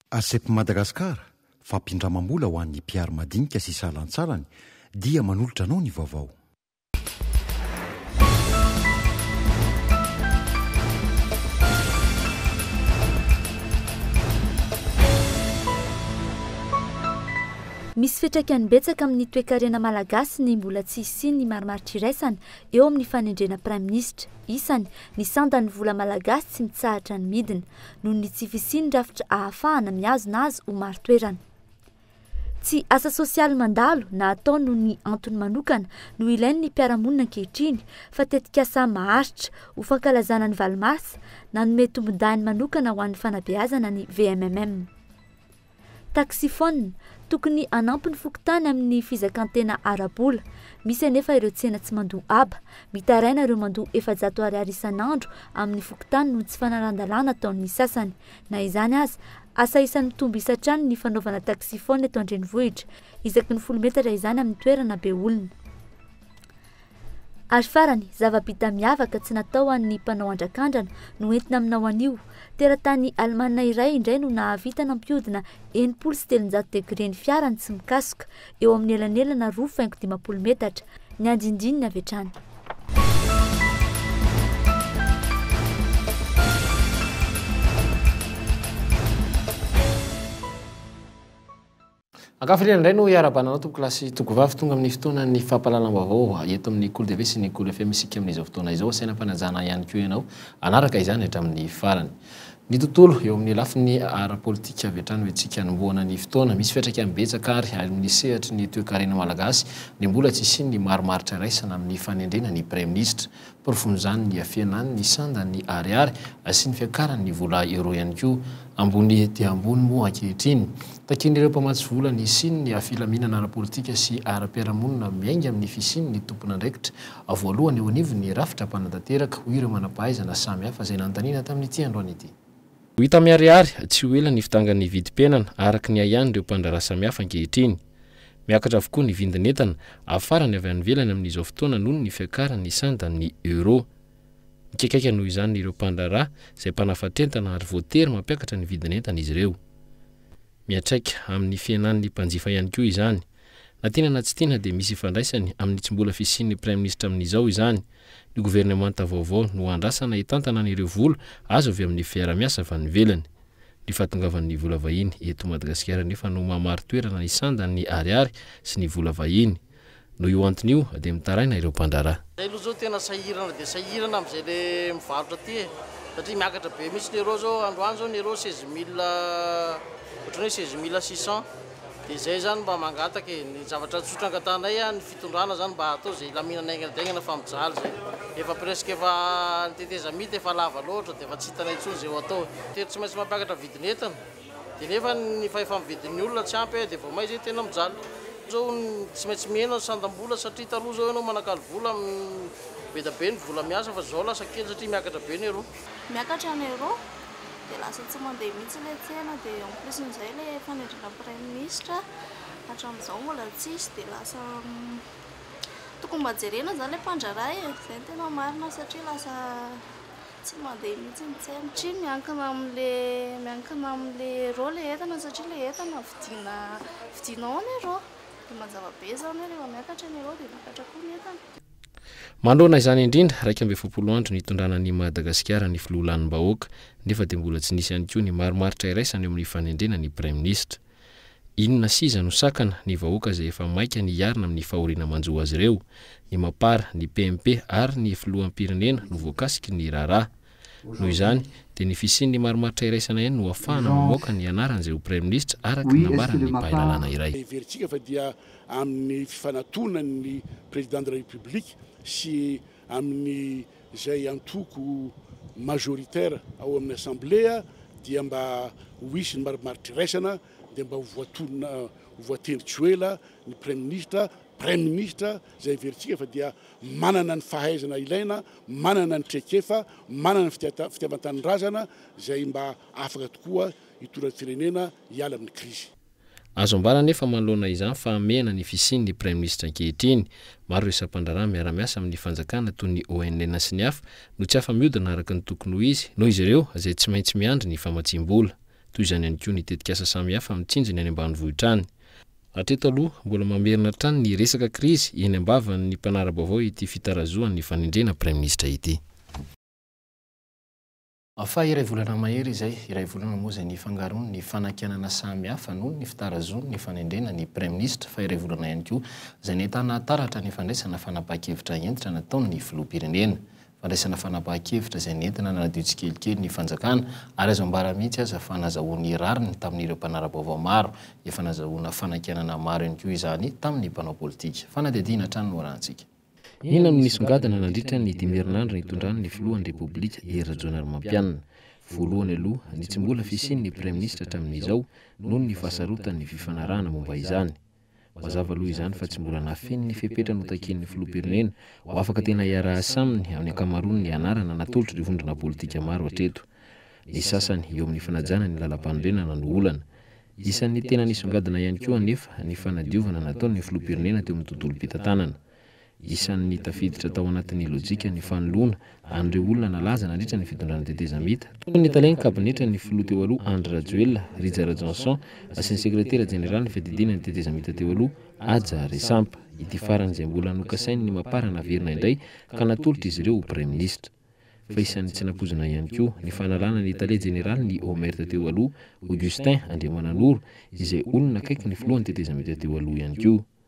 Arcep Madagascar, Fampindramam-bola ho an'ny mpiaro madinika sy salantsalany dia manolotra anao ny vaovao. Misy fiantraikany betsaka amin'ny toekarena malagasy ny mbola tsy hisian'ny marimaritra iraisana eo amin'ny fanendrena praiminisitra. Isany, ny sandan'ny vola malagasy tsy mitsahatra ny midina. noho ny tsy fisian'ny rafitra ahafahana mihazona azy ho marin-toerana. Tsy asa sosialy mandalo na atao noho ny antony manokana no ilain'ny mpiara-monina ankehitriny fa tetikasa maharitra ho fankalazana ny valo marsa nanome tombon-dahiny manokana ho an'ny fanabeazana ny VMMM. Taxifone, tokony hanampy ny fokontany amin'ny fizakan-tena ara-bola. Misy anefa ireo tsena tsy mandoa haba. Mitaraina ireo mandoa efajato ariary isan'andro amin'ny fokontany noho ny tsy fanaran-dalàna ataon'ny sasany. Na izany aza, asa isan'ny mitombo isa hatrany ny fanaovana taxifone eto an-drenivohitra. Isaky ny folo metatra izany amin'ny toerana be olona. Ary farany, zava-bita miavaka tsy natao ho an'ny mpanao andrakandrana no entina aminao anio. Teratany alemana iray indray no nahavita nampihodina enimpolo sy telonjato degre ny fiarany tsy mikasoka, eo amin'ny elanelana roa faingo dimampolo metatra, ny andindininy avy hatrany. Ankafiriana indray no iarahabana anao tompokolahy tokovavy tonga amin'ny fotoanan'ny fampahalalam-baovao eto amin'ny Kolo TV sy ny Kolo FM isika amin'izao fotoana izao asaina am-panajana ihany koa ianao hanaraka izany hatramin'ny farany ny tontolo eo amin'ny lafiny ara-politika avy hatrany hoe tsika hanombohana ny fotoana misy fiatraikany betsaka ary ary amin'ny sehatry ny toekarena malagasy ny mbola tsy isian'ny marimaritra iraisana amin'ny fanendrena ny praiminisitra Porofon'izany ny hafenany, ny sandany, ny ariary sy ny fiakarany ny vola euro ihany koa. Ambony dia ambony moa ankehitriny. Takian'ireo mpamatsy vola ny hisian'ny filaminana ara-politika sy ara-piarahamonina miainga amin'ny fisian'ny tompon'andraikitra voalohany eo anivon'ny rafitra mpanantanteraka, hoy ireo manam-pahaizana samihafa izay nanontaniana tamin'ity androany ity. Ho hita miharihary tsy ho ela ny fidangan'ny vidim-piainana araka ny ahian'ireo mpandraharaha samihafa ankehitriny. Miakatra avokoa ny vidin'entana afarany avy any ivelany amin'izao fotoana noho ny fiakaran'ny sandan'ny euro. Mikaikaika noho izany ireo mpandraharaha izay mpanafatr'entana ary voatery mampiakatra ny vidin'entana izy ireo. Miantraika amin'ny fihenan'ny mpanjifa ihany koa izany. Na tiana na tsy tiana dia misy ifandraisany amin'ny tsy mbola fisian'ny Praiminisitra amin'izao izany. Ny governemanta vaovao no andrasana hitantana an'ireo vola azo avy amin'ny fiarahamiasa avy any ivelany. Ny fahatongavan'ny vola vahiny eto Madagasikara anefa no mahamari-toerana ny sandan'ny ariary sy ny vola vahiny. Noho io antony io dia mitaraina ireo mpandraharaha. Zay aloha zao tena sahirana dia sahirana amzay le mivarotra aty e! Satria miakatra be mihitsy ny euro zao, androany zao ny euro seize mille, otrany hoe seize mille six cent. Dia izay izany mba mangataka e, ny zavatra tsotra angatahanay an ny fitondrana zany mba atao izay hilaminana haingana daingana fa mijaly izay efa presque efa ny tetezamita efa lava loatra dia efa tsy hitanay intsony izay ho atao e. Tery tsy maintsy mampiakatra vidin'entana dia nefa ny fahefa-mividin'ny olona tsy ampy e dia vao may izay tena mijaly. Izao tsy maintsy mihena ny sandam-bola satria taloha izao ianao manakalo vola be da be ny vola miasa fa izao lasa kely satria miakatra be ny euro. Miakatra ny euro. dia lasa tsy mandeha mihitsy ilay tsena dia en plus amin'izay ilay fanendrena praiminisitra hatramin'izao mbola tsisy dia lasa tokony mba jerena izany ilay mpandraharaha e, izay no tena marina satria lasa tsy mandeha mihitsy ny tsena satria miankina amin'ilay miankina amin'ilay euro ilay entana satria ilay entana vidiana vidianao en euro dia mazava be izany hoe rehefa miakatra ny euro dia miakatra koa ny entana. Manoloana izany indrindra, iraika amby efapolo andro nitondrana an'i Madagasikara ny filoha lanim-bahoaka, nefa dia mbola tsy nisy ihany koa ny marimaritra iraisana eo amin'ny fanendrena ny praiminisitra. Inona siza no sakana, ny vahoaka izay efa maika ny hiarina amin'ny fahoriana manjo azy ireo? Ny Mapar, ny PMP ary ny filoham-pirenena no voakasiky ny raharaha. Noho izany, dia ny fisian'ny marimaritra iraisana ihany no hahafahana mamoaka ny anaran'izay ho Praiminisitra, araka ny nambaran'ny mpahay lalàna iray. Heverintsika fa dia amin'ny fifanatonan'ny Président de la République sy amin'izay antoko majoritaire ao amin'ny Assemblée dia mba ho hisy ny marimaritra iraisana dia mba ho voatonona, ho voatendry tsy ho ela ny Praiminisitra Praiminisitra izay heverintsika fa dia manana ny fahaizana ilaina, manana ny traikefa, manana ny fitiavan-tanindrazana izay mba afaka tokoa hitondra ny firenena hiala amin'ny krizy. Azo ambara anefa manoloana izany fa hamehana ny fisian'ny Praiminisitra ankehitriny. Maro ireo sampandraharaha miara-miasa amin'ny fanjakana toy ny ONN sy ny hafa no tsy afa-miodina araka ny tokony ho izy noho izy ireo izay tsy maintsy miandry ny famatsiam-bola. Toy izany ihany koa ny tetikasa samihafa mitsinjo ny any ambanivohitra any. Hatreto aloha, mbola mamerina hatrany ny resaka krizy eny am-bavan' ny mpanara-baovao ity fitarazohan' ny fanendrena praiminisitra ity. Fa iray volana mahery izay, iray volana moa izay nifangaroan' ny fanakianana samy hafa noho ny fitarazoan' ny fanendrena ny praiminisitra, fa iray volana ihany koa izay nahitana taratra ny fandraisana fanapahan-kevitra hentitra nataon' ny filoham-pirenena. fandraisana fanapahan-kevitra izay nentina nanadio tsikelikely ny fanjakana ary azo ambara mihitsy aza fa nazahoany rariny tamin'ireo mpanara-baovao maro, efa nazahoana fanakianana maro ihany koa izany tamin'ny mpanao politika. Fanadihadiana hatrany no arahantsika. Inona no nisongadina nandritra ny dimy herinandro nitondran'ny filohan'ny Repoblika, Hery Rajaonarimampianina? Voalohany aloha, ny tsy mbola fisian'ny Praiminisitra hatramin'izao noho ny fahasarotan'ny fifanarahana momba izany. Mazava aloha izany fa tsy mbola nafenin' ny fepetra notakian' ny filoham-pirenena ho afaka tena hiara-asa aminy amin'ny ankamaroan' ny anarana natolotr'ireo vondrona politika maro hatreto. Ny sasany eo amin'ny fanajana ny lalampanorenana no olana. Isan'ny tena nisongadina ihany koa anefa ny fanadiovana nataon'ny filoham-pirenena teo amin'ny tontolom-pitantanana. Isan'ny tafiditra tao anatin'ny lojika ny fanoloana an'ireo olona nalaza nandritra ny fitondrana tetezamita, toy ny talen'ny kabinetra ny filoha teo aloha Andry Rajoelina, Rija Rajohnson, sy ny sekretera jeneralin'ny fiadidiana ny tetezamita teo aloha Haja Resampa, ity farany izay mbola nokasain'ny Mapar naverina indray ka natolotra izy ireo ho praiminisitra. Fa isan'ny tsy nampoizina ihany koa ny fanalana ny tale jeneralin'ny Omert teo aloha, Augustin Andriamananoro, izay olona akaiky ny filohan'ny tetezamita teo aloha ihany koa.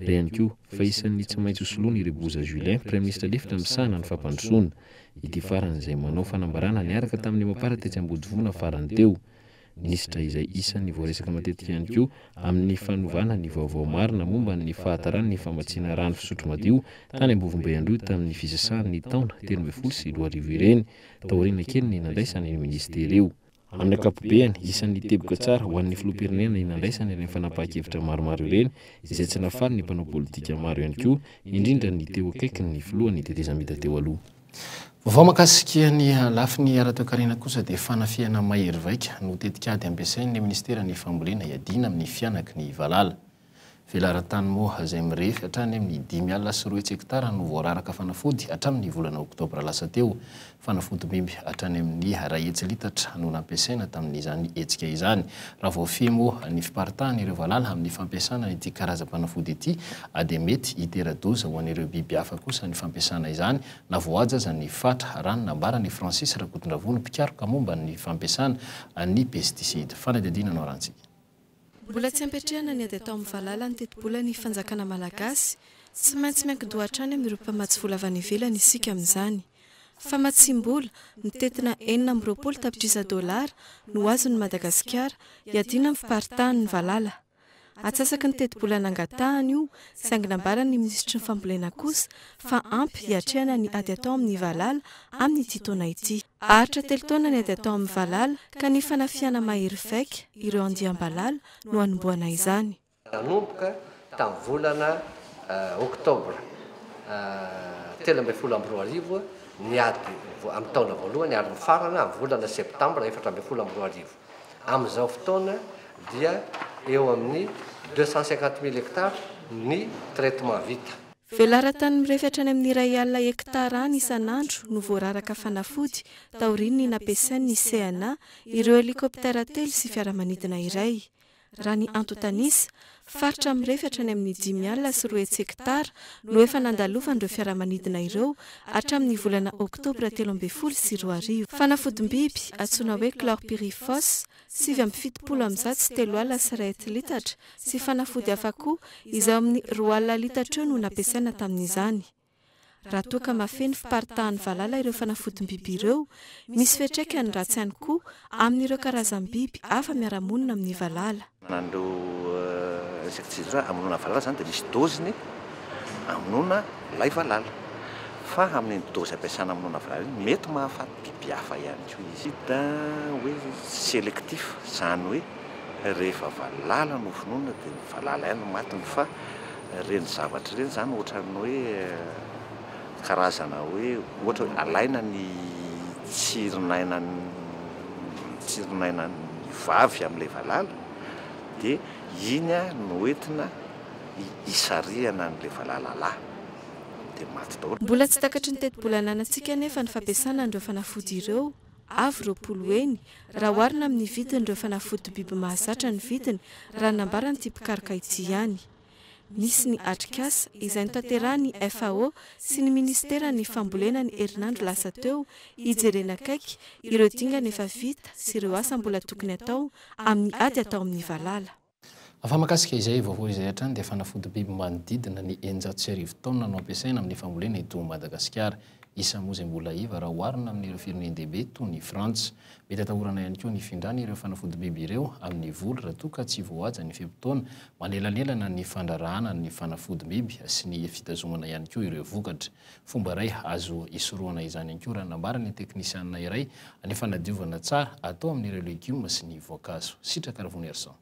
Ary ihany koa, fa isan'ny tsy maintsy hosoloany i Reboza Julien, praiminisitra lefitra misahana ny fampandrosoana, ity farany izay manao fanambarana niaraka tamin'ny Emapara tetsy Ambodivona farany teo. Minisitra izay isan'ny voaresaka matetika ihany koa amin'ny fanovana ny vaovao marina momba ny fahataran'ny famatsiana rano fisotro madio tany Ambovombe Androy tamin'ny fisasahan'ny taona telo ambin'ny folo sy roa arivo ireny, taoriana kely ny nandraisany io minisitera io. Amin'ny ankapobeny, isan'ny teboka tsara ho an'ny filoham-pirenena ny nandraisany ireny fanapahan-kevitra maromaro ireny, izay tsy nafaly ny mpanao politika maro ihany koa, indrindra ny teo akaikiny ny filohan'ny tetezamita teo aloha. Vaovao mahakasika ny lafiny ara-toekarena kosa dia fanafihana mahery vaika no tetikady ampiasain'ny minisiteran'ny fambolena hiadiana amin'ny fihanaky ny valala. Velaran-tany moa izay mirefy hatrany amin'ny dimy alina sy roa hetsy hektara no voararaka fanafody hatramin'ny volana oktobra lasa teo. Fanafodimby hatrany amin'ny iray hetsy litatra no nampiasaina tamin'izany hetsika izany. Raha voafehy moa ny fiparitahan'ireo valala amin'ny fampiasana ity karazam-panafody ity dia mety hitera-doza ho an'ireo biby hafa kosa ny fampiasana izany na voahaja aza ny fatra, raha ny nambaran'i Francis Rakotondravony, mpikaroka momba ny fampiasana ny pesticides. Fanadihadiana no arantsika. Mbola tsy ampiatrehana ny ady atao amin'ny valala ny tetibolan'ny fanjakana malagasy. Tsy maintsy miankin-doha hatrany amin'ireo mpamatsy vola avy any ivelany isika amin'izany. Famatsiam-bola, mitentina enina amby roapolo tapitrisa dolara, no azon'i Madagasikara, iadiana amin'ny fiparitahan'ny valala. Atsasaky ny tetibola nangatahany io, saingy nambaran'ny minisitry ny fambolena kosa fa ampy hiatrehana ny ady atao amin'ny valala amin'ity taona ity. Aritra telo taona ny ady atao amin'ny valala ka ny fanafihana mahery vaika ireo andiam-balala no hanombohana izany. Nanomboka tamin'ny volana oktobra telo ambin'ny folo amby roa arivo ny ady amin'ny taona voalohany ary mifarana amin'ny volana septambra efatra ambin'ny folo amby roa arivo. Amin'izao fotoana dia eo amin'ny deux cent cinquante mille hectares ny traitement vita. Velaran-tany mirefy hatrany amin'ny iray alina hekitara any isan'andro no voararaka fanafody taorian'ny nampiasain'ny CNA ireo helikoptera telo sy fiaramanidina iray. Raha ny antontanisa, faritra mirefy hatrany amin'ny dimy alina sy roa hetsy hekitara no efa nandalovan'ireo fiaramanidina ireo hatramin'ny volana oktobra telo ambin'ny folo sy roa arivo. Fanafodim-biby antsoina hoe chlorpyrifos sivy amby fitopolo amin'izato sy telo alina sy iray hetilitatra, sy fanafody hafa koa izay eo amin'ny roa alina litatra eo no nampiasaina tamin'izany. Raha toa ka mahafeno fiparitahan'ny valala ireo fanafodim-biby ireo, misy fiantraikany ratsy ihany koa amin'ireo karazam-biby hafa miara-monina amin'ny valala. An'ireo insecticide ireo hamonoana valala izany dia misy doziny hamonoana ilay valala, fa amin'iny dozy ampiasana hamonoana valala iny mety mahafaty. Biby hafa ihany koa izy. Hita hoe selectif, izany hoe rehefa valala no vonoina dia ny valala ihany no matiny fa ireny zavatra ireny izany ohatran'ny hoe karazana hoe ohatra hoe alaina ny tsirinainan'ny tsirinainan'ny vavy amin'ilay valala dia iny no entina hisarihana an'ilay valala lahy. dia maty daholo. Mbola tsy takatry ny tetibola ananantsika anefa ny fampiasana an'ireo fanafody ireo, avo roapolo heny, raha oharina amin'ny vidin'ireo fanafody biby mahazatra ny vidiny raha ny nambaran'ity mpikaroka ity ihany. Misy ny atrikasa, izay notanterahan'ny FAO sy ny minisiteran'ny fambolena ny herinandro lasa teo, hijerena akaiky ireo dingana efa vita sy ireo asa mbola tokony atao amin'ny ady atao amin'ny valala. Fa mahakasika izay vaovao izay hatrany dia fanafodi-biby manodidina ny eninjato sy arivo taonina no ampiasaina amin'ny fambolena eto Madagasikara. Isa moa izay mbola iva raha oharina amin'ireo firenen-dehibe toa ny Frantsa. Mety atahorana ihany koa ny findrana ireo fanafodi-biby ireo amin'ny voly raha toa ka tsy voahaja ny fe-potoana manelanelana ny fandrarahana ny fanafodi-biby sy ny fitazomana ihany koa ireo vokatra. Fomba iray azo hisorohana izany ihany koa raha nambarany ny teknisianina iray ny fanadiovana tsara atao amin'ireo legioma sy ny voankazo. Sitraka Ravonerison.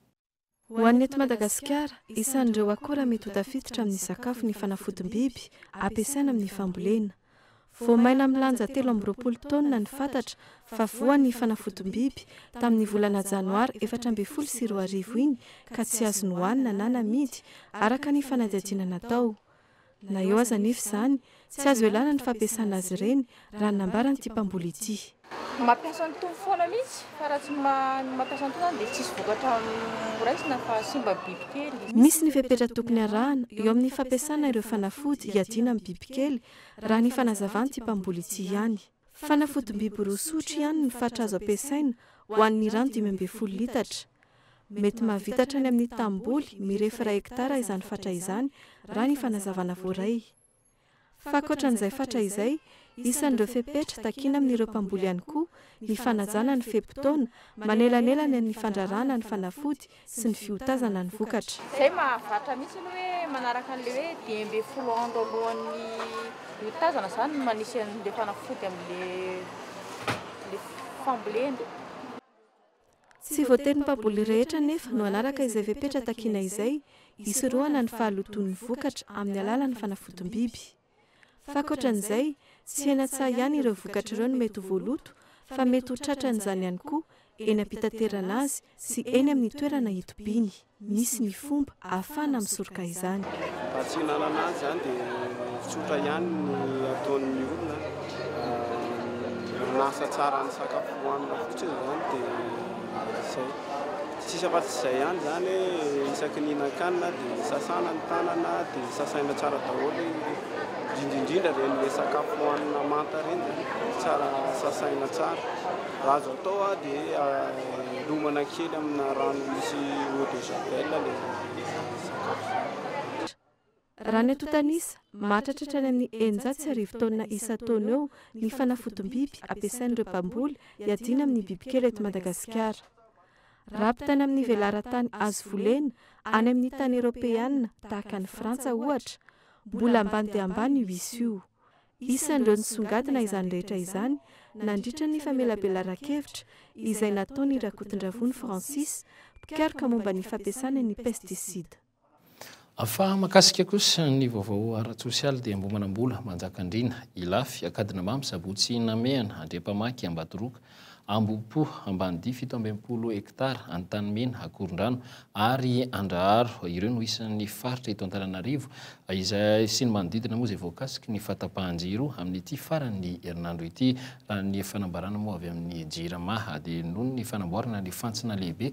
Ho an'ny eto Madagasikara, isan'ireo akora mety ho tafiditra amin'ny sakafo ny fanafodim-biby ampiasaina amin'ny fambolena. Vao maina milanja telo amby roapolo taonina ny fatatra fa voa ny fanafodim-biby tamin'ny volana janoary efatra ambin'ny folo sy roa arivo iny ka tsy azo nohanina na namidy, araka ny fanadihadiana natao. Na eo aza anefa izany, tsy azo ialana ny fampiasana azy ireny, raha ny nambaran'ity mpamboly ity. Mampiasa ny tony foana mihitsy fa raha tsy mampiasa ny tony izany dia tsisy vokatra horaisina fa simba bibikely. Misy ny fepetra tokony arahana eo amin'ny fampiasana ireo fanafody hiadiana amin'ny bibikely, raha ny fanazavan'ity mpamboly ity ihany. Fanafodim-biby roa sotro ihany ny fatra azo ampiasaina ho an'ny rano dimy ambin'ny folo litatra. Mety mahavita hatrany amin'ny tanimboly mirefy iray hektara izany fatra izany, raha ny fanazavana voaray. Fa ankoatran'izay fatra izay, isan'ireo fepetra takina amin'ireo mpamboly ihany koa ny fanajana ny fe-potoana manelanelana ny fandraràna ny fanafody sy ny fiotazana ny vokatra. Izay mahavatra mihitsy ny hoe manaraka an'ilay hoe dimy ambin'ny folo andro alohan'ny hiotazana izany no manisy an'ilay fanafody amin'ilay fambolena. Tsy voatery ny mpamboly rehetra anefa no hanaraka izay fepetra takiana izay hisorohana ny fahalotoan'ny vokatra amin'ny alalan'ny fanafodim-biby. F'ankoatran'izay, tsy hena tsaho ihany ireo vokatra ireo no mety ho voaloto fa mety ho tratran'izany ihany koa eny am-pitaterana azy sy eny amin'ny toerana itobiany. Misy ny fomba ahafahana misoroka izany. Raha tsy hihinanana azy izany dia tsotra ihany ny ataon'ny olona, manasa tsara ny sakafo hohanina fotsiny izany dia izay. Tsy misy afa-tsy izay ihany izany hoe isaky ny hihinan-kanina dia sasana ny tanana, dia sasaina tsara daholo, indrindra indrindra ireny sakafo hohanina manta ireny dia tsara sasaina tsara. Raha azo atao dia lomana kely amina rano misy eau de javel ilay sakafo. Raha ny antontan'isa, mahatratra hatrany amin'ny eninjato sy arivo taonina isan-taona eo ny fanafodim-biby ampiasain'ireo mpamboly hiadiana amin'ny bibikely eto Madagasikara. Raha ampitaina amin'ny velaran-tany azo volena any amin'ny tany eropeanina tahaka an'i Frantsa, ohatra, mbola ambany dia ambany io isa io. Isan'ireo nisongadina izany rehetra izany nandritra ny famelabelaran-kevitra izay nataon'i Rakotondravony Francis, mpikaroka momba ny fampiasana ny pesticide. Fa mahakasika kosa ny vaovao ara-tsosialy dia Amboa Manambola, Manjakandriana, Ilafy, Ankadinamamy, Sabotsy Namehana, Andriampamaky, Ambadoroka, Ambohipo, Ambanidia fito amby enimpolo hektara, Antanimena, Akorondrano ary Andraharo. Ireo no isan'ny faritra eto Antananarivo izay sy ny manodidina moa izay voakasiky ny fahatapahan-jiro amin'ity faran'ny herinandro ity. Raha ny fanambarana moa avy amin'ny Jirama dia noho ny fanamboarana ny fantsona lehibe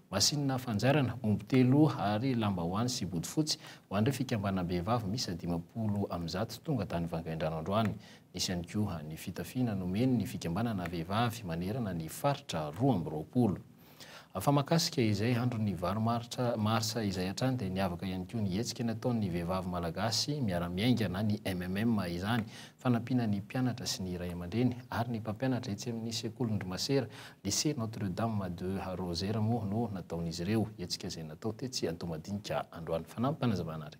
masinina fanjairana, omby telo ary lambahoany sy bodofotsy ho an'ireo fikambanam-behivavy miisa dimampolo amby zato tonga tany Vangaindrano androany. Nisy ihany koa ny fitafiana nomeny ny fikambanana vehivavy manerana ny faritra roa amby roapolo. Fa mahakasika izay andron'ny valo maritra, marsa, izay hatrany dia niavaka ihany koa ny hetsika nataon'ny vehivavy malagasy miara-miainga na ny MMM izany, fanampiana ny mpianatra sy ny ray aman-dreny ary ny mpampianatra etsy amin'ny sekolin-dry masera Lycée Notre Dame de Rosaire moa no nataon'izy ireo hetsika izay natao tetsy Antohomadinika androany. Fanampy fanazavana ary.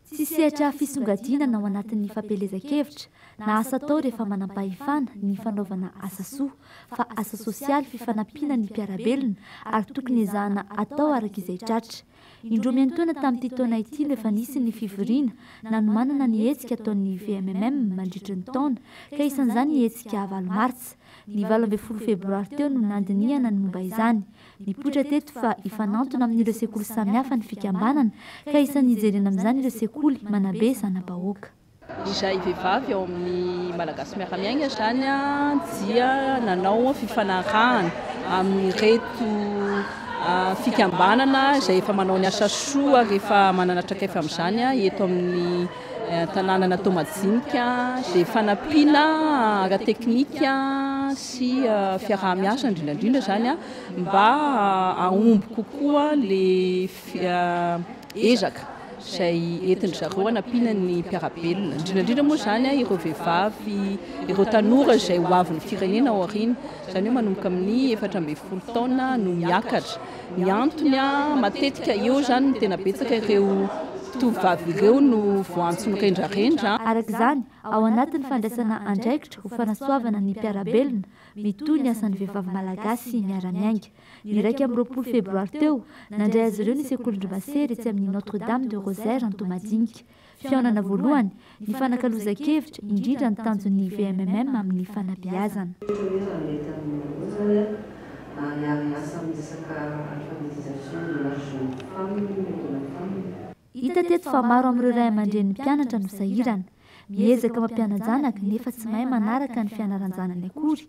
Tsy sehatra fisongadinana ao anatin'ny fampielezan-kevitra na asa atao rehefa manam-pahefana ny fanaovana asa soa fa asa sosialy fifanampiana ny mpiara-belona ary tokony ezahana atao araka izay tratra. Indroa miantoana tamin'ity taona ity no efa nisy ny fivoriana nanomanana ny hetsika ataon'ny VMMM mandritry ny taona ka isan'izany ny hetsika valo martsa. Ny valo ambin'ny folo febroary teo no nandinihana ny momba izany. Nipoitra teto fa hifanantona amin'ireo sekoly samihafa ny fikambanana ka isan'ny hijerena amin'izany ireo sekoly manabe zana-bahoaka. Izay vehivavy ao amin'ny Malagasy Miara-Miaina izany dia nanao fifanarahana amin'ireto fikambanana izay efa manao ny asa soa ary efa manana traikefa amin'izany eto amin'ny tanànana Toamadjinika dia fanampiana ara-teknika sy fiaraha-miasa indrindra indrindra izany mba hahomby kokoa ilay ezaka izay entin-dry zareo hanampiana ny mpiara-belona, indrindra indrindra moa izany ireo vehivavy, ireo tanora izay ho avin'ny firenena ao aoriana, izany hoe manomboka amin'ny efatra ambin'ny folo taona no miakatra. Ny antony, matetika eo izany no tena betsaka ireo tovovavy ireo no voantso mirendrarendra. Araka izany, ao anatin'ny fandraisana andraikitra ho fanasoavana ny mpiara-belona, mitohy ny asan'ny vehivavy malagasy miara-miainga. Ny iraika amby roapolo febroary teo, nandray azy ireo ny Sekolin-dry Masera etsy amin'ny Notre Dame de Rosaire Antohomadinika. Fihaonana voalohany, nifanakalozan-kevitra, indrindra ny tanjon'ny VMMM amin'ny fanabeazana. Fifanomezana mety amin'ny maha-boazana ary hiara-hiasa amin'ny resaka alphabétisation de la jeune femme et de la femme. Hita teto fa maro amin'ireo ray aman-drenin'ny mpianatra no sahirana. Miezaka mampiana-janaka nefa tsy mahay manaraka ny fianaran-janany akory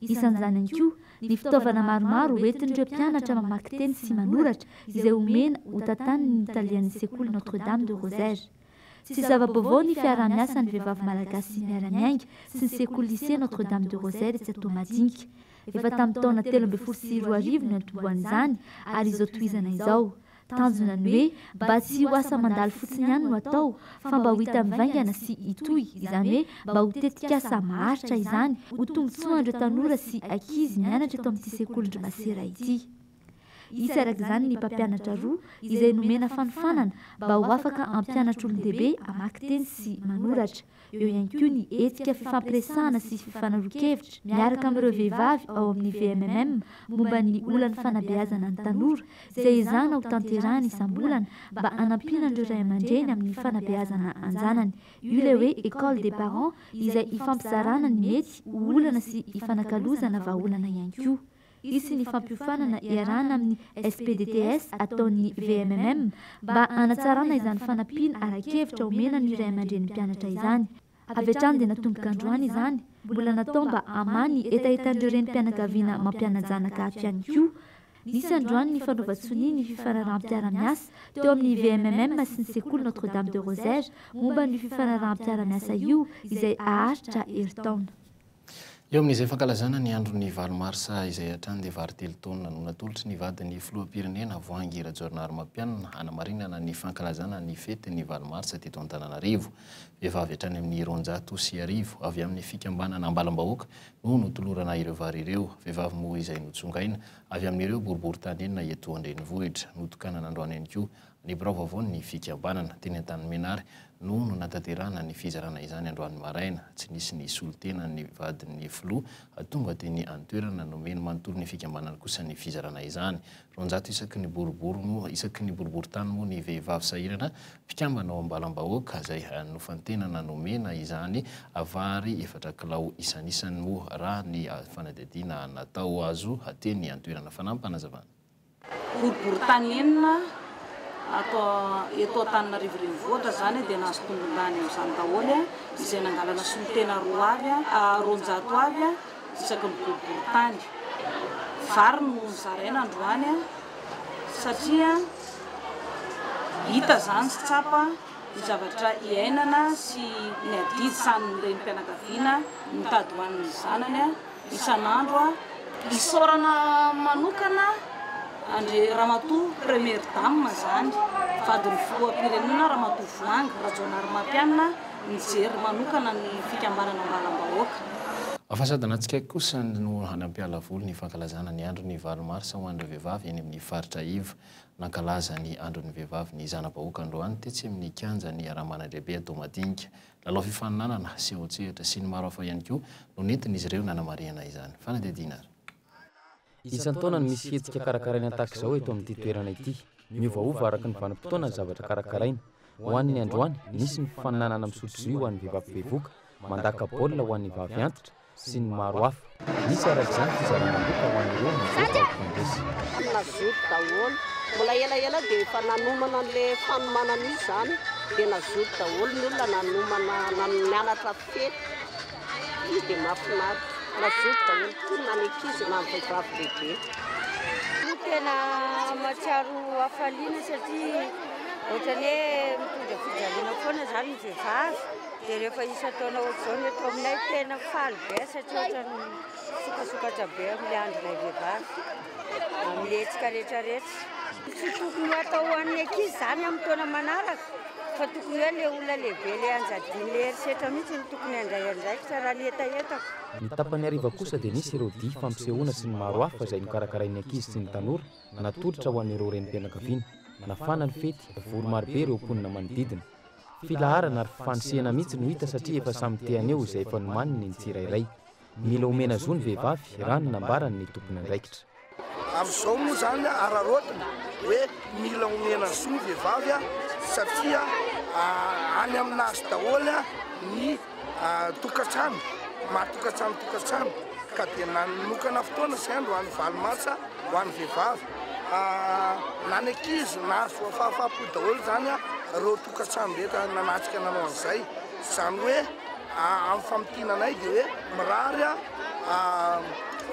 Isan'izany ihany koa ny fitaovana maromaro hoentin'ireo mpianatra mamaky teny sy manoratra izay omena ho tantaniny ny talehan'ny sekoly Notre Dame de Rosaire. Tsy zava-baovao ny fiaraha-miasan'ny vehivavy malagasy miara-miainga sy ny sekoly Lycée Notre Dame de Rosaire etsy Toamadinika. Efa tamin'ny taona telo ambin'ny folo sy roa arivo no niantombohan'izany ary izao tohizana izao. Tanjona ny hoe mba tsy ho asa mandalo fotsiny ihany no atao fa mba ho hita mivaingana sy hitohy, izany hoe mba ho tetikasa maharitra izany ho tombontsoan'ireo tanora sy ankizy mianatra eto amin'ity sekolin-dry masera ity. Hisy araka izany ny mpampianatra roa izay nomena fanofanana mba ho afaka hampianatra olon-dehibe hamaky teny sy manoratra. Eo ihany koa ny hetsika fifampiresahana sy fifanaroan-kevitra miaraka amin'ireo vehivavy ao amin'ny VMMM momba ny olan'ny fanabeazana ny tanora izay ezahana ho tanterahina isam-bolana mba hanampiana an'ireo ray aman-dreny amin'ny fanabeazana an-janany. Io ilay hoe École des parents izay ifampizarana ny mety ho olana sy ifanakalozana vahaolana ihany koa. Hisy ny fampiofanana iarahana amin'ny SPDTS ataon'ny VMMM mba hanatsarana izany fanampiana ara-kevitra omena ny ray aman-drenin'ny mpianatra izany. Avy hatrany dia natomboka androany izany, mbola natao mba hamaha ny hetahetan'ireo renim-pianakaviana mampiana-janaka ato ihany koa. Nisy androany ny fanaovan-tsonia ny fifanaraham-piara-miasa teo amin'ny VMMM sy ny sekoly Notre-Dame de Rosaire momba an'io fifanaraham-piara-miasa io izay haharitra herintaona. Eo amin'izay fankalazana ny andron'ny valo marsa izay hatrany dia vary telo taonina no natolotry ny vadin'ny filoham-pirenena, Voahangy Rajaonarimampianina, hanamarinana ny fankalazana ny fetin'ny valo marsa teto Antananarivo. Vehivavy hatrany amin'ny roanjato sy arivo avy amin'ny fikambanana Ambalam-bahoaka no notolorana ireo vary ireo. Vehivavy moa izay notsongaina avy amin'ireo boriborintany enina eto an-drenivohitra. Notokanana androany ihany koa Ny birao vaovaon'ny fikambanana, teny Antanimenary, no nanatanterahana ny fizarana izany androany maraina. Tsy nisy ny solontena ny vadin'ny filoha tonga teny an-toerana. Nomeny manontolo ny fikambanany kosa ny fizarana izany. Roanjato isaky ny boribory moa isaky ny boriborintany moa ny vehivavy sahirana mpikambana ao am-balam-bahoaka izay nofantenana nomena izany vary efatra kilao isanisany moa raha ny fanadihadiana natao azo teny an-toerana. Fanampin-panazavana. Boriborintany enina ato eto Antananarivo Renivohitra izany dia nahazo tombondany amin'izany daholo izay nangalana solontena roa avy, roanjato avy isaky ny boriborintany. Vary no nozaraina androany satria hita izany sy tsapa ny zavatra iainana sy ny adidy sahanin'ny renim-pianakaviana mitady ho an'ny zanany. isan'andro aho. Isaorana manokana an-dry Ramatoa Première Dame izany, vadin'ny Filoham-pirenena Ramatoa Voahangy Rajaonarimampianina nijery manokana ny fikambanana Ambalam-bahoaka. Fa sady natsikaiky kosa ny ho hanampiala voly ny fankalazana ny andron'ny valo marsa ho an'ireo vehivavy eny amin'ny faritra iva. Nankalaza ny andron'ny vehivavy ny zana-bahoaka androany tetsy amin'ny kianjan'ny Ramanandehibe Toamadinika. Lalao fifaninanana, seho an-tsehatra sy ny maro hafa ihany koa no nentin'izy ireo nanamarihana izany. Fanadihadiana ary. Isan-taona no misy hetsika karakaraina tahaka izao eto amin'ity toerana ity. Miovaova araka ny vanim-potoana ny zavatra karakaraina. Ho an'ny androany, nisy ny fifaninanana misotro jus ho an'ny vehivavy bevoka, mandaka baolina ho an'ny vavy antitra, sy ny maro hafa. Misy araka izany fizarana loka ho an'ireo mivoaka ao Kongresy. Ny nazoto daholo. Mbola elaela dia efa nanomana an'le fanomanana io izany dia nazoto daholo ny olona nanomana nianatra fety io dia mahafinaritra. Nazoto daholo tokoa na ny ankizy na ny vehivavy lehibe. Io tena mahatsiaro hafaliana satria ohatran'ny hoe mitondra fijaliana foana izany ny vehivavy. Dia rehefa isan-taona ohatr'izao ny eto aminay tena faly be ahy satria ohatran'ny misokasokatra be amin'ny andronay vehivavy amin'ny hetsika rehetra rehetra. Tsy tokony hatao ho an'ny ankizy izany amin'ny taona manaraka fa tokony hoe ilay olona lehibe ilay anjadian'ilay herisetra mihitsy no tokony handray andraikitra raha ny hetahetako. Ny tapany hariva kosa dia nisy ireo dihy fampisehoana sy ny maro hafa izay nokarakarain'ny ankizy sy ny tanora natolotra ho an'ireo renim-pianakaviana. Nafana ny fety, vory marobe ireo mponina manodidina. Filaharana ary fifanosehana mihitsy no hita satria efa samy te haneho izay efa nomaniny ny tsirairay. Mila omena zo ny vehivavy raha ny nambarany ny tompon'andraikitra. Amin'izao moa izany araraotina hoe mila omena zo ny vehivavy satria any amin'azy daholo ny. tokantrano maro tokantrano tokantrano ka dia nanokana fotoana sy andro ho an'ny valo marsa ho an'ny vehivavy na ny ankizy nahazoa fahafaha-po daholo izany ireo tokantrano rehetra nanatrika nanao an'izay izany hoe amin'ny famintinana anay dia hoe mirary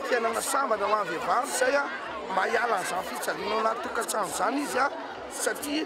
fiainana sambatra ho an'ny vehivavy izay mba hiala an'izany fijaliana ao anaty tokantrano izany izy satria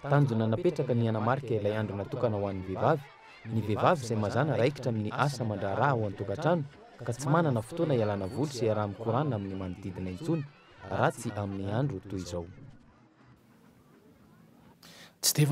Tanjona napetraka ny hanamarika ilay andro natokana ho an'ny vehivavy, ny vehivavy izay mazàna raikitra amin'ny asa aman-draharaha ao an-tokantrano ka tsy manana fotoana ialana voly sy iaraha-mikorana amin'ny manodidina intsony raha tsy amin'ny andro toy izao. Tsy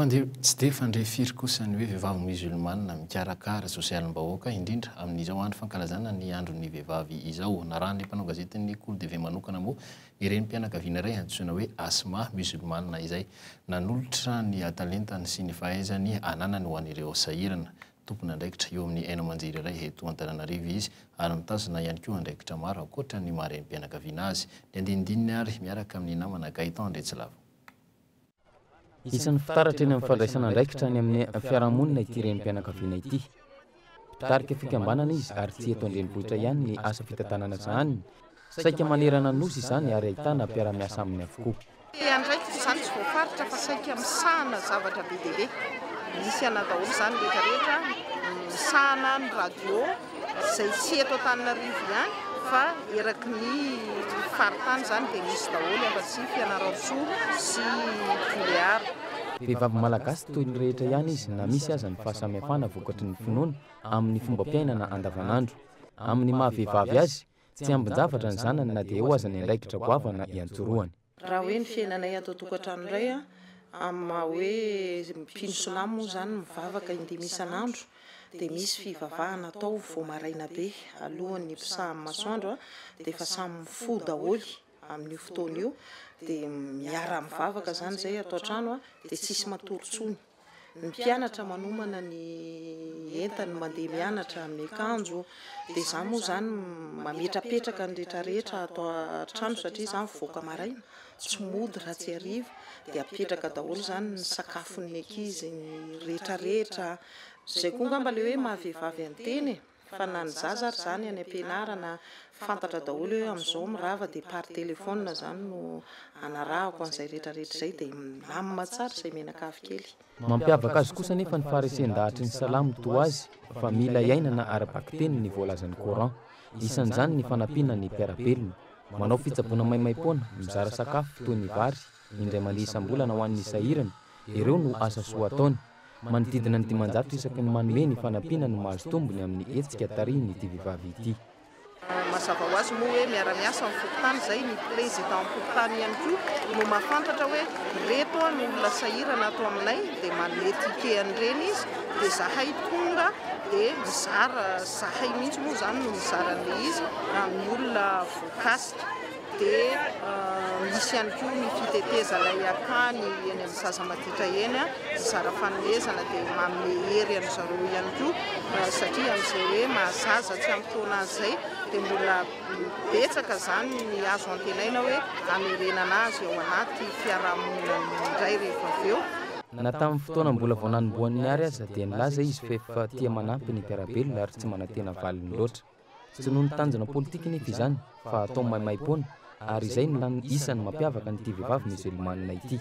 dia fandre firy kosa ny hoe vehivavy Musulmana mikarakara sosialim-bahoaka, indrindra amin'izao andro fankalazana ny andron'ny vehivavy izao. Narahan'ilay mpanao gazetin'ny Col TV manokana moa Ny renim-pianakaviana iray antsoina hoe Asma, Mozilmana izay, nanolotra ny talentany sy ny fahaizany ananany ho an'ireo sahirana. Tompon'andraikitra eo amin'ny haino aman-jery iray eto Antananarivo izy, ary mitazona ihany koa andraikitra maro ankoatra ny maha-renim-pianakaviana azy. Ny andinindininy ary, miaraka amin'ny namana Gaëtan Andriatsilava. Isan'ny fitaratra eny amin'ny fandraisana andraikitra any amin'ny fiarahamonina ity renim-pianakaviana ity. Mpitarika fikambanana izy ary tsy eto an-drenivohitra ihany ny asa fitantanana sahaniny, saika manerana ny Nosy izany ary ahitana mpiara-miasa aminy avokoa. Te handraikitra izany tsy voafaritra fa saika misahana zavatra be dia be. Misy anao daholo izany rehetra rehetra, misahana ny radio. Izay tsy eto Antananarivo ihany fa eraky ny faritany izany dia misy daholo afa-tsy Fianarantsoa sy Toliara. Vehivavy malagasy toy ny rehetra ihany izy na misy aza ny fahasamihafana vokatry ny finoana amin'ny fombam-piainana andavanandro. Amin'ny maha-vehivavy azy, tsy ambin-javatra ny zanany na dia eo aza ny andraikitra goavana iantsorohany. Raha hoe ny fiainanay ato an-tokantrano indray an, amin'ny maha hoe mpino silamo moa izany mivavaka indimy isan'andro, dia misy fivavahana atao vao maraina be alohan'ny hiposahan'ny masoandro an, dia efa samy mifoha daholo amin'io fotoana io, dia miara-mivavaka izany izay ato an-trano an, dia tsisy matory intsony. ny mpianatra manomana ny entany mandeha mianatra amin'ny akanjo dia izaho moa izany mametrapetraka ny rehetrarehetra ato an-trano satria izaho mivoaka maraina tsy mody raha tsy hariva dia apetraka daholo izany ny sakafon'ny ankizy ny rehetrarehetra izay koa angamba ilay hoe maha vehivavy an-tena e fa na ny zaza ary zany any ampianarana fantatra daholo hoe amin'izao mirava dia par téléphone zany no anarahako an'izay retraretra izay dia milamina tsara izay mianakavy kely. Mampiavaka azy kosa anefa ny faharesen-dahatry ny salamo toa azy fa mila iainana ara-bakiteny ny voalazan'ny coran, isan'izany ny fanampiana ny mpiara-belona, manao fitsaboana maimaim-poana, mizara sakafo toy ny vary, indray mandeha isam-bolana ho an'ny sahirana, ireo no asa soa ataony. Manodidina ny dimanjato isaky ny manome ny fanampiana no mahazo tombony amin'ny hetsika tarihin'ity vehivavy ity. Mazava ho azy moa hoe miara-miasa amin'ny fokontany izay, ny Prezidanim-pokontany ihany koa no mahafantatra hoe ireto ny olona sahirana ato aminay dia manome ticket an'ireny izy dia izahay tonga dia mizara, izahay mihitsy moa izany no mizara an'ilay izy amin'ny olona voakasika. Dia misy ihany koa ny fitetezana eny an-tany eny amin'ny zaza maditra eny, mizara fanomezana dia manome hery an-dry zareo ihany koa satria amin'izay hoe maha zaza tsy ampy taona azy izay dia mbola betsaka izany ny azo antenaina hoe hamerenana azy ao anaty fiarahamonina indray rehefa avy eo. Na tamin'ny fotoana mbola vao nanombohan'ny Art aza dia nilaza izy f'efa tia manampy ny mpiara-belona ary tsy manantena valiny loatra. Tsy noho ny tanjona politika nefa izany fa atao maimaim-poana ary izay no lany isan'ny mampiavaka an'ity vehivavy Musulmane ity.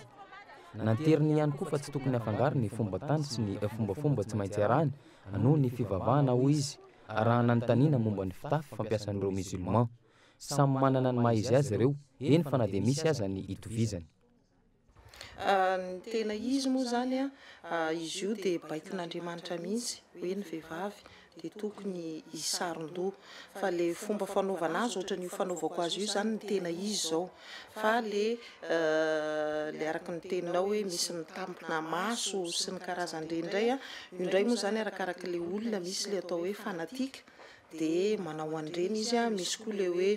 Nanteriny ihany koa fa tsy tokony afangaro ny fomba tany sy ny fombafomba tsy maintsy arahina noho ny fivavahana hoy izy raha nanontaniana momba ny fitafy fampiasan'ireo Musulman. Samy manana ny maha-izy azy ireo, eny fa na dia misy aza ny itovizany. Ny tena izy moa izany an, izy io dia baikon'Andriamanitra mihitsy hoe ny vehivavy dia tokony hisaron-doha. Fa ilay fomba fanaovana azy ohatran'io fanaovako azy io izany no tena izy izao. Fa ilay ilay araka ny teninao hoe misy mitampina maso sy ny karazan'ireny indray an, io indray moa izany arakarak'ilay olona, misy ilay atao hoe fanatique, dia manao an'ireny izy a, misy koa ilay hoe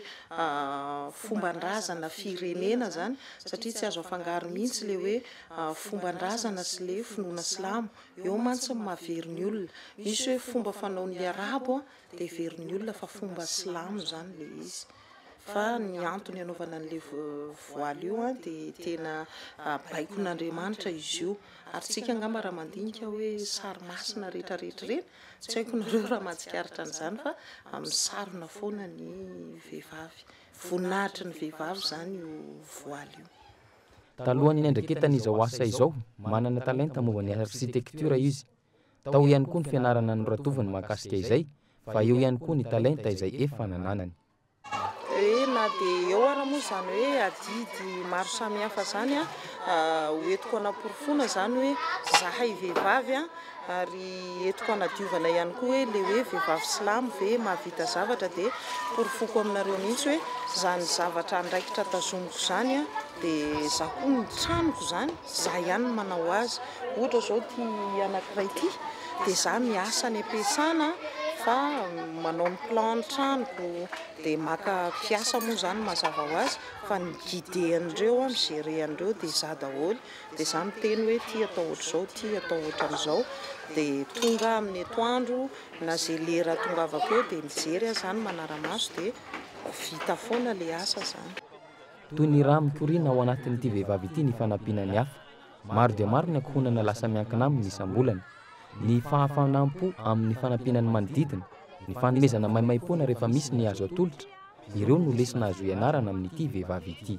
fomban-drazana firenena zany satria tsy azo afangaro mihitsy ilay hoe fomban-drazana sy ilay finoana silamo, eo mantsy ny mahavery ny olona, misy hoe fomba fanaon'ny arabo a dia heverin'ny olona fa fomba silamo zany ilay izy, fa ny antony anaovana an'ilay voile io a dia tena baikon'Andriamanitra izy io, ary isika angamba raha mandinika hoe sary masina retraretra ireny Tsy haiko nareo raha mahatsikaritra an'izany fa misarona foana ny vehivavy. Voninahitry ny vehivavy izany io voaly io. Talohan'ny niandraiketany izao asa izao, manana talenta momba ny arsitektiora izy. Tao ihany koa ny fianarana noratoviny mahakasika izay, fa eo ihany koa ny talenta izay efa nananany. hoe na dia eo ara moa izany hoe adidy maro samihafa izany a ah, ho entiko hanaporofoana izany hoe zahay vehivavy a ary entiko hanadiovana ihany koa hoe le hoe vehivavy silamo ve mahavita zavatra dia porofoko aminareo mihitsy hoe izany zavatra andraikitra tazomiko izany a dia za koa ny tranoko izany Za ihany no manao azy. Ohatra izao ity anankiray ity dia za miasa any am-piasana fa manao ny plan ny tranoko dia maka mpiasa moa izany mazava ho azy fa ny mi-guider an'ireo an, mi-gerer an'ireo dia za daholo dia za miteny hoe ity atao ohatr'izao, ity atao ohatran'izao dia tonga amin'ny etoandro na izay lera atongavako eo dia mijery aho izany manara-maso dia vita foana ilay asa izany. Toy ny rà mikoriana ao anatin'ity vehivavy ity ny fanampiana ny hafa. Maro dia maro ny ankohonana lasa miankina aminy isam-bolana. Ny fahafanam-po amin'ny fanampiana ny manodidina, ny fanomezana maimaim-poana rehefa misy ny azo atolotra, ireo no lesona azo ianarana amin'ity vehivavy ity.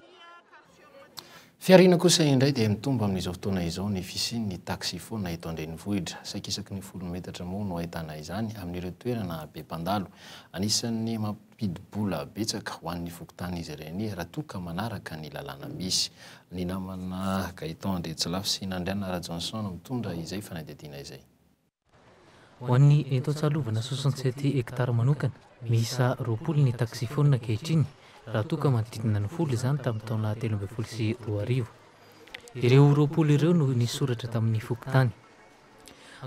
Fihariana kosa indray dia mitombo amin'izao fotoana izao ny fisian'ny taxi-phone eto an-drenivohitra. Saikaisaky ny folo metatra moa no ahitana izany amin'ireo toerana be mpandalo. Anisan'ny mpidi-bola betsaka ho an'ny fokontany izy ireny raha toa ka manaraka ny lalàna misy. Ny namana Gaëtan Andriatsilafy sy Nandriana Rajohnson mitondra izay fanadihadiana izay. Ho an'ny eto Antsahalovana soixante sept hectares manokana, miisa roapolo ny taxi-phone ankehitriny raha toa ka manodidina ny folo izany tamin'ny taona telo ambin'ny folo sy roa arivo. Ireo roapolo ireo no nisoratra tamin'ny fokontany.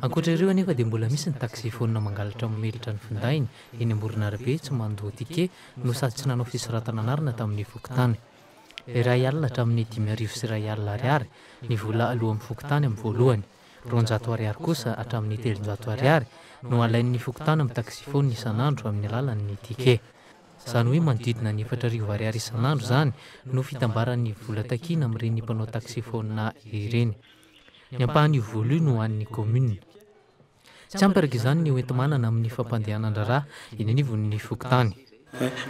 Ankoatra ireo anefa dia mbola misy ny taxi-phone mangalatra mamelatra ny findainy eny amoron'arabe tsy mandoa ticket no sady tsy nanao fisoratana anarana tamin'ny fokontany. Iray alina hatramin'ny dimy arivo sy iray alina ariary ny vola aloan'ny fokontany amin'ny voalohany, roanjato ariary kosa hatramin'ny telonjato ariary no alain'ny fokontany amin'ny taxi-phone isan'andro amin'ny alalan'ny ticket. Izany hoe manodidina ny efatra arivo ariary isan'andro izany no fitambaran'ny vola takiana amin'ireny mpanao taxi-phone ireny. Ny ampahany io vola io no an'ny kaominina. Tsy ampy araka izany ny hoenti-manana amin'ny fampandehanan-draharaha eny anivon'ny fokontany.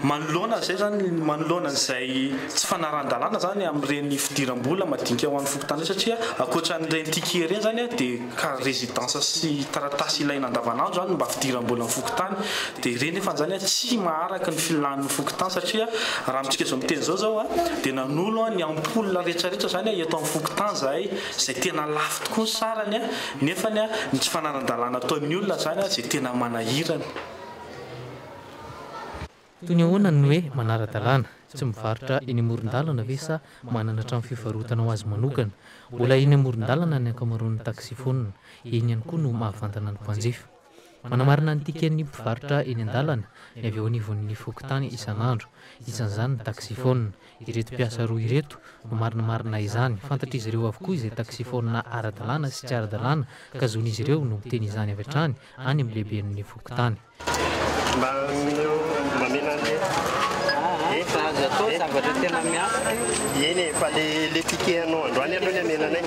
Manoloana an'izay izany, manoloana an'izay tsy fanarahan-dalàna izany amin'ireny fidiram-bola madinika ho an'ny fokontany ireny satria ankoatra an'ireny ticket ireny izany dia carte résidence sy taratasy ilaina andavanandro izany no mba fidiram-bolan'ny fokontany Dia ireny efa anzany tsy maharaka ny filan'ny fokontany satria raha amintsika izao miteny izao zao a dia nanolo a ny ampoule rehetra rehetra zany a eto amin'ny fokontany zahay zay tena lafo tokoa ny sarany a nefany a ny tsy fananan-dalàna ataon'ny olona zany a zay tena manahirana. Toy ny ahoana ny hoe manara-dalàna? Tsy mivarotra eny amoron-dalana ve sa manana trano fivarotana ho azy manokana? Mbola eny amoron-dalana ny ankamaroan'ny taxi-phone. Eny ihany koa no mahavantana ny mpanjifa. Manamarina ny tiken'ny mpivarotra eny an-dalana ny avy eo anivon'ny fokontany isan'andro, isan'izany ny taksifaonina. Ireto mpiasa roa ireto no marinamarina izany. Fantatr'izy ireo avokoa izay taksifaonina ara-dalàna sy tsy ara-dalàna ka zon'izy ireo no miteny izany avy hatrany any amin'ny lehiben'ny fokontany. Mba omeo mamela an'le Efa aza atao zavatra tena miafina io. Eny e, fa le le ticket anao androany aloha ny amelanay.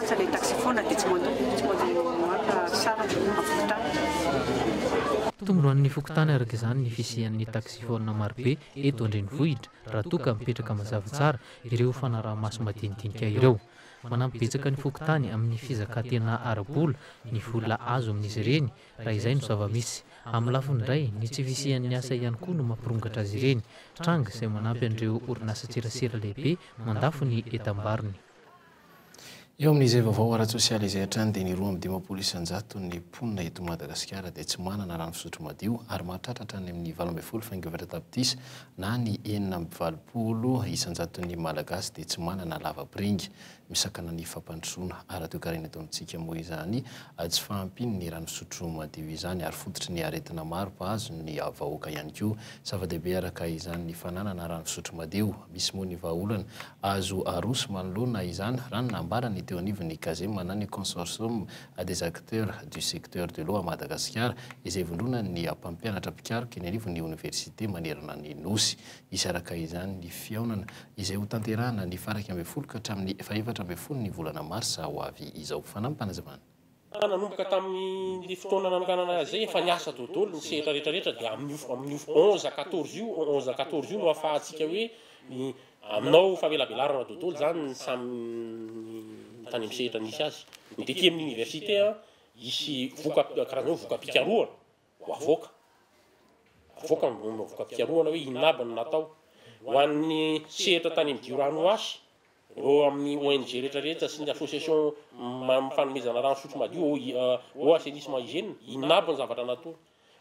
Lasa ilay taxi foana dia tsy mandoa, tsy mandoa maka sary amin'ny fokontany. Tombonoan'ny fokontany araka izany ny fisian'ny taxi foana marobe eto an-drenivohitra raha toa ka mipetraka mazava tsara ireo fanaraha-maso madinidinika ireo. Manampy betsaka ny fokontany amin'ny fizakantena ara-bola ny vola azo amin'izy ireny raha izay no zava-misy. Amin'ny lafiny indray, ny tsy fisian'ny asa ihany koa no mampirongatra azy ireny. Tranga izay manampy an'ireo orinasan-tserasera lehibe mandafo ny entam-barony. Eo amin'izay vaovao ara-tsosialy izay hatrany dia ny roa amby dimampolo isan-jato ny mponina eto Madagasikara dia tsy manana rano fisotro madio ary mahatratra hatrany amin'ny valo ambin'ny folo faingo efatra tapitrisa na ny enina amby valopolo isan-jaton'ny Malagasy dia tsy manana lavapiringa. Misakana ny fampandrosoana ara-toekarena eto amintsika moa izany tsy fahampian'ny rano fisotro madio izany ary fototry ny aretina maro mpahazo ny vahoaka ihany koa. Zava-dehibe araka izany ny fananana rano fisotro madio. Misy moa ny vahaolana Azo aroso manoloana izany raha ny nambarany teo anivon'ny Cazema na ny Consortium des acteurs du secteur de l'eau à Madagasikara izay ivondronan'ny mpampianatra mpikaroka eny anivon'ny oniversite manerana ny Nosy. Hisaraka izany ny fihaonana izay hotanterahana ny faha iraika ambin'ny folo ka hatramin'ny faha efatra ambin'ny folo ny volana marsa ho avy izao. Fanampinazavana. Fa nanomboka tamin'izay fotoana nanonganana azy izay, efa niasa dodolo ny sehatra rehetra rehetra, dia amin'io amin'io onze à quatorze io, onze à quatorze io no ahafahantsika hoe ny aminao famelabelarana dodolo izany ny samy ny tany amin'ny sehatra nisy azy. Ny de aty amin'ny université an, hisy voka karazana hoe voka-pikarohana. ho avoaka, avoaka ny vono voka-pikarohana hoe inona aby no natao. Ho an'ny sehatra tany amin'ny Diorano H, ireo amin'ny ONG rehetra rehetra sy ny Association amin'ny fanomezana rano fisotro madio, OIH, Eau Assainissement Hygiène, inona aby ny zavatra nataony.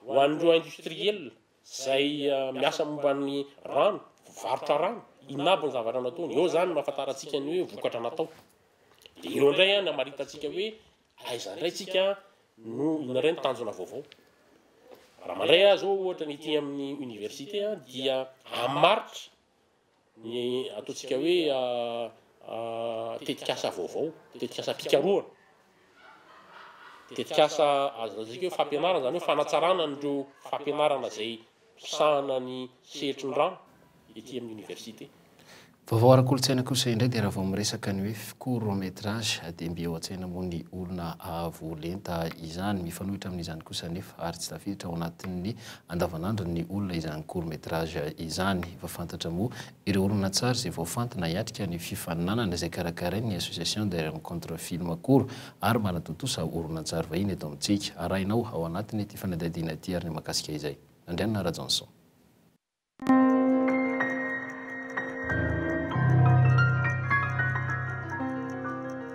Ho an'ireo industriels izay miasa momba ny rano, mpivarotra rano, inona aby ny zavatra nataony. Eo izany no ahafantarantsika ny hoe vokatra natao. Dia eo indray ny hamaritantsika hoe Aiza indray tsika no indray ny tanjona vaovao? Raha mandray azy ô ohatra ny ety amin'ny université a dia amin'ny maritra ny ataontsika hoe tetikasa vaovao, tetikasam-pikarohana, tetikasa azo lazaiko hoe fampianarana, zany hoe fanatsarana an'ireo fampianarana izay fisahana ny sehetrin-drano ety amin'ny oniversite. Vaovao ara-kolontsaina kosa indray dia raha vao miresaka ny hoe court métrage dia mby eo an-tsaina moa ny olona avo lenta izany. Mifanohitra amin'izany kosa anefa ary tsy tafiditra ao anatin'ny andavanandron'ny olona izany court métrage izany. Efa fantatra moa Ireo horonantsary izay voafantina hiatrika ny fifaninanana izay karakarain'ny Association des Rencontres Films Koro ary manatontosa horonantsary vahiny eto amintsika. Arahinao ao anatin'ity fanadihadiana ity ary ny mahakasika izay. Andrianina Rajaonson.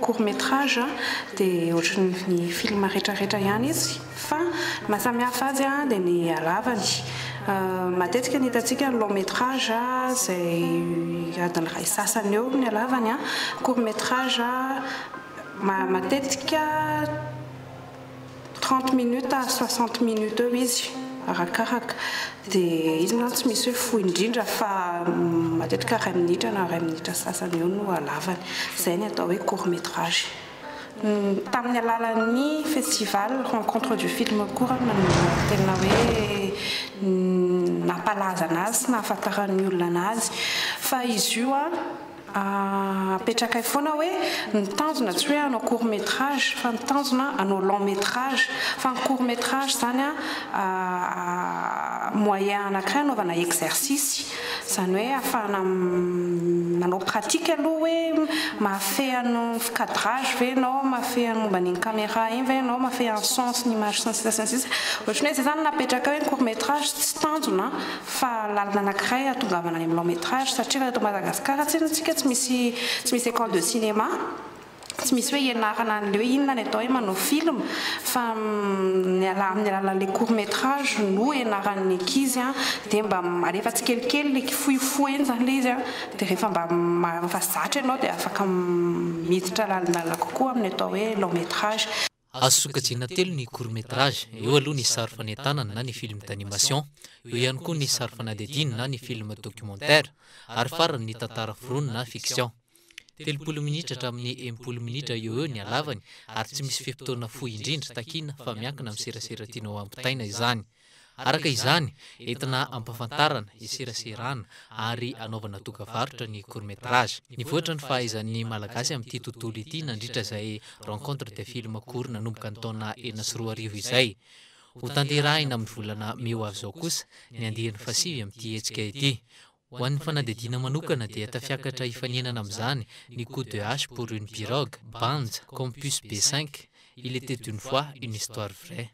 Court métrage dia ohatry ny film rehetra rehetra ihany izy fa ny maha samy hafa azy dia ny halavany. Matetika ny hitantsika ny long métrage izay adiny iray sy sasany eo ny halavany, court métrage matetika, trente minutes à soixante minutes eo izy arakaraka dia izy mantsy tsy misy hoe fohy indrindra fa matetika iray minitra na iray minitra sy sasany eo no halavany izay ny atao hoe court métrage tamin'ny alalan'ny festival rencontre du film koa raha no tena hoe nampalaza an'azy sy nahafantaran'ny olona an'azy fa izy io an Apetrakay foana hoe ny tanjona tsy hoe hanao court metrage fa ny tanjona hanao long metrage fa ny court metrage izany an moyen anakiray hanaovana exercice izany hoe hahafahana manao pratique aloha hoe mahafehy an'ny cadrage ve ianao mahafehy an'ny momba an'iny camera iny ve ianao mahafehy an'ny son sy ny image sy ny sisa sy ny sisa ohatran'ny hoe izay izany no napetrakay hoe ny court metrage tsy tanjona fa lalana anakiray hahatongavana any amin'ny long métrage satria raha eto Madagasikara tsinona tsika tsy misy tsy misy école de cinéma tsy misy hoe hianarana anle hoe inona ny atao hoe manao film fa amin'ny alalan'le court métrage no hianaran'ny ankizy an dia mba alefa tsikelikely le kifoifoiny zany le izy an dia rehefa mba rehefa zatra ianao dia afaka miditra lalindaina kokoa amin'ny atao hoe long métrage Azo sokajiana telo ny court métrage, eo aloha ny sary fanentanana na ny film d'animation, eo ihany koa ny sary fanadihadiana na ny film documentaire, ary farany ny tantara foronina na fiction. Telopolo minitra hatramin'ny enimpolo minitra eo ho eo ny halavany ary tsy misy fe-potoana fohy indrindra takiana fa miankina amin'ny serasera tianao hampitaina izany. Araka izany, entina ampahafantarana, eseraserana ary anaovana dokavarotra ny court métrage. Nivoatra ny fahaizan'ny Malagasy amin'ity tontolo ity nandritra izay Rencontre des films courts nanomboka ny taona enina sy roa arivo izay. Hotanterahina amin'ny volana mey ho avy izao kosa ny andiany fahasivy amin'ity hetsika ity. Ho an'ny fanadihadiana manokana dia tafiakatra hifaninana amin'izany ny coup de hache pour une pirogue, Banja, Compus B cinq, Il était une fois, une histoire vraie.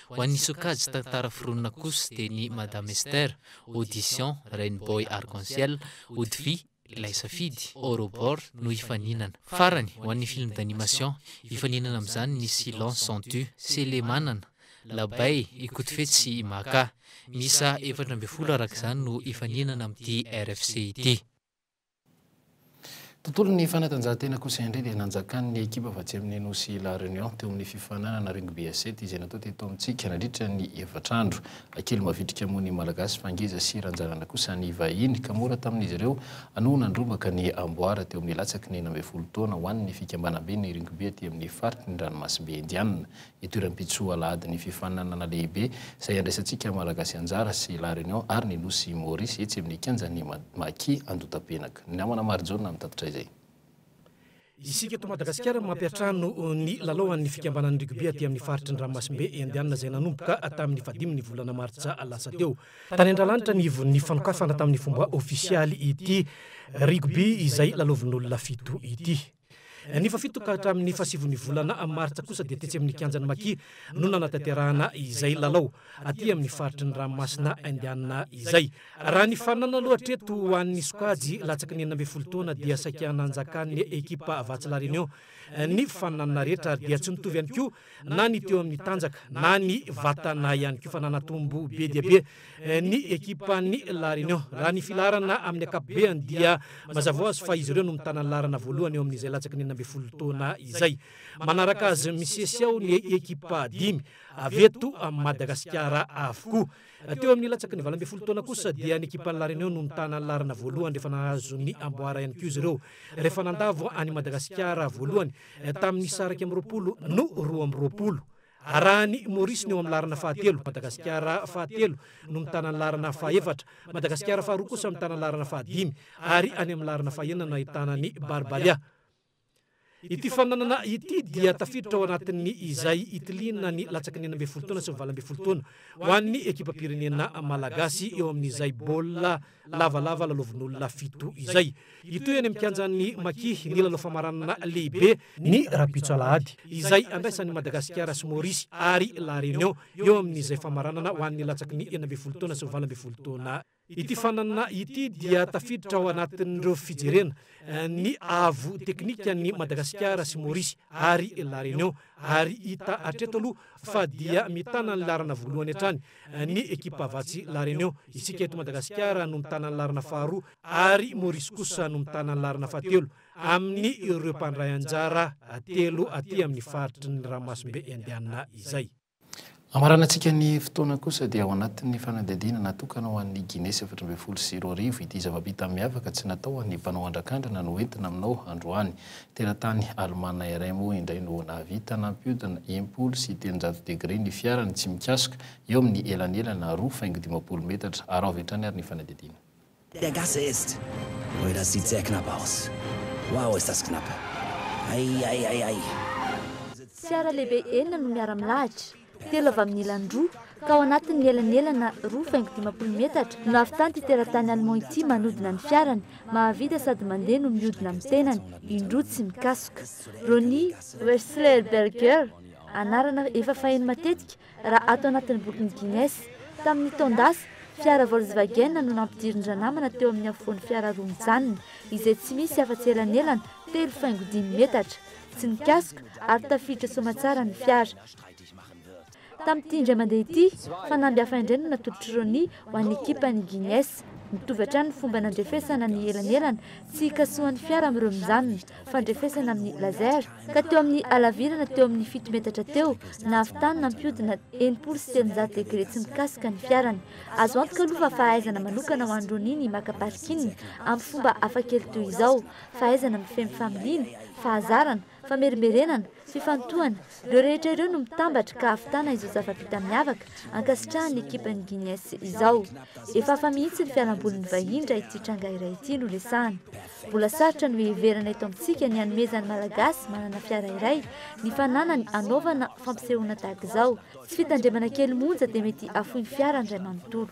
Ho an'ny sokajy tantara foronina kosa dia ny Madame Esther, Audition, Rain Boy Arc en Ciel, Odify, Ilay Safidy, Aurobor, no hifaninana. Farany, ho an'ny film d'animation, hifaninana amin'izany ny Silence sans tu, Selemanana, Labay, Ikotofetsy sy Imaka. Miisa efatra ambin'ny folo araka izany no hifaninana amin'ity RFC ity. Tontolon'ny fanatanjahantena kosa indray dia nanjakan'ny ekipa avy atsy amin'ny nosy La Réunion teo amin'ny fifaninanana Rugby à sept izay natao teto amintsika nandritra ny efatra andro. Kely mavitrika moa ny Malagasy fa ngeza sy ranjanana kosa ny vahiny ka mora tamin'izy ireo no nandrombaka ny amboara teo amin'ny latsaky ny enina ambin'ny folo taona ho an'ny fikambanamben'ny Rugby aty amin'ny faritry ny ranomasimbe Indianina Itoeram-pitsoa Alahady ny fifaninanana lehibe izay andraisantsika Malagasy anjara sy La Réunion ary ny Nosy Maurice etsy amin'ny kianjan'ny Maki Andotapenaky. Ny namana Marijaona no nitatitra izay. Isika eto Madagasikara no mampiantrano ny lalaoan'ny fikambanan'ny Rugby aty amin'ny faritry ny ranomasimbe Indiana izay nanomboka tamin'ny fahadimy ny volana martsa lasa teo. Tany Andralanitra ny ivon'ny fanokafana tamin'ny fomba ofisialy ity Rugby izay lalaovin'olona fito ity. Ny fahafito ka hatramin'ny fahasivon'ny volana martsa kosa dia tetsy amin'ny kianjan'i Maki no nanatanterahana izay lalao, aty amin'ny faritry ny ranomasina Indiana izay. Raha ny faninana aloha hatreto ho an'ny sokajy latsaky ny enina ambin'ny folo taona dia saika nanjakan'ny ekipa Vatsy La Réunion ny faninanana rehetra ary dia tsy nitovy ihany koa na ny teo amin'ny tanjaka na ny vatana ihany koa fa nanatombo be dia be ny ekipan'ny La Réunion. Raha ny filaharana amin'ny ankapobeny dia mazava ho azy fa izy ireo no mitana ny laharana voalohany eo amin'izay latsaky ny enina ambin'ny folo taona izay. Manaraka azy misesy ao ny ekipa dimy avy eto Madagasikara avokoa. Teo amin'ny latsaky ny valo ambin'ny folo taona kosa dia ny ekipan'ny La Réunion no mitana ny laharana voalohany rehefa nahazo ny amboara ihany koa izy ireo rehefa nandavo an'i Madagasikara voalohany tamin'ny isa iraika amby roapolo no roa amby roapolo. Arahan'i Maurice ny eo amin'ny laharana fahatelo, Madagasikara fahatelo no mitana ny laharana fahefatra, Madagasikara faharoa kosa mitana ny laharana fahadimy ary any amin'ny laharana fahenina no ahitana ny Barbaria. Ity fananana ity dia tafiditra ao anatin'ny izay itiliana ny latsaky ny enina ambin'ny folo taona sy ny valo ambin'ny folo taona ho an'ny ekipam-pirenena malagasy eo amin'izay baolina lavalava lalaovin'olona fito izay. Hitohy any amin'ny kianjan'ny Maki ny lalao famaranana lehibe ny rahampitso alahady izay andraisan'i Madagasikara sy Maorisy ary La Réunion eo amin'izay famaranana ho an'ny latsaky ny enina ambin'ny folo taona sy ny valo ambin'ny folo taona. Ity faninanana ity dia tafiditra ao anatin'ireo fijerena ny avo teknikan'i Madagasikara sy Maorisy ary La Réunion ary hita hatreto aloha fa dia mitana ny laharana voalohany hatrany ny ekipa Vatsy La Réunion. Isika eto Madagasikara no mitana ny laharana faharoa ary Maurice kosa no mitana ny laharana fahatelo amin' ireo mpandray anjara telo aty amin' ny faritry ny Ranomasimbe Indiana izay. Hamaranantsika ny fotoana kosa dia ao anatin'ny fanadihadiana natokana ho an'ny Guinée sy efatra ambin'ny folo sy roa arivo ity zava-bita miavaka tsy natao ho an'ny mpanao andrakandrana no entina aminao androany. Teratany alemana iray moa indray no nahavita nampiodina impolo sy telonjato degre ny fiarany tsy mikasika eo amin'ny elanelana roa faingo dimampolo metatra. Araho avy hatrany ary ny fanadihadiana. Dia gasy est! Mbola sy jack na baos! Waoo estas knapa! Aiaiaiai! Fiara lehibe enina no miara-milahatra, telo avy amin'ny ilany roa, ka ao anatin'ny elanelana roa faingo dimampolo metatra no nahavitan'ity teratany Allemand ity manodina ny fiarany, mahavita sady mandeha no miodina amin'ny tenany indroa tsy mikasoka. Ronnie. Wechsler Berger, anarana efa faheno matetika, Raha ato anatin'ny bokin'i Guinness, tamin'ny taon-dasa, fiara Volkswagen no nampidirin-dranamana teo amin'ny afovoan'ny fiara roa mijanona, izay tsy misy afa-tsy elanelana telo faingo dimy metatra. Tsy nikasoka ary tafiditra soamatsara ny fiara. Tamin'ity indray mandeha ity, fanamby hafa indray no natolotr'i Ronnie ho an'ny ekipan'ny Guinness. Mitovy hatrany ny fomba nandrefesana ny elanelana tsy hikasohan'ny fiara amin'ireo mijanona. fandrefesana amin'ny laser, ka teo amin'ny halavirana teo amin'ny fito metatra teo, nahavitany nampihodina enimpolo sy telonjato degre tsy mikasika ny fiarany. Azo antoka aloha fa fahaizana manokana ho an'i Ronnie ny maka parking amin'ny fomba hafakely toy izao, fahaizana mifehy ny familiana, fahazarana, famerimberenana, Fifantohana, ireo rehetra ireo no mitambatra ka hahavitana izao zava-bita miavaka ankasitrahan'ny ekipan'ny Guignes izao. Efa hafa mihitsy ny fialambolin'ny vahiny raha ity tranga iray ity no resahana. Mbola sarotra no hiheverana eto amintsika ny hanomezan'ny Malagasy manana fiara iray ny fananany hanaovana fampisehoana tahaka izao. Tsy fitandremana kely monja dia mety hafoin'ny fiara ny ray manontolo.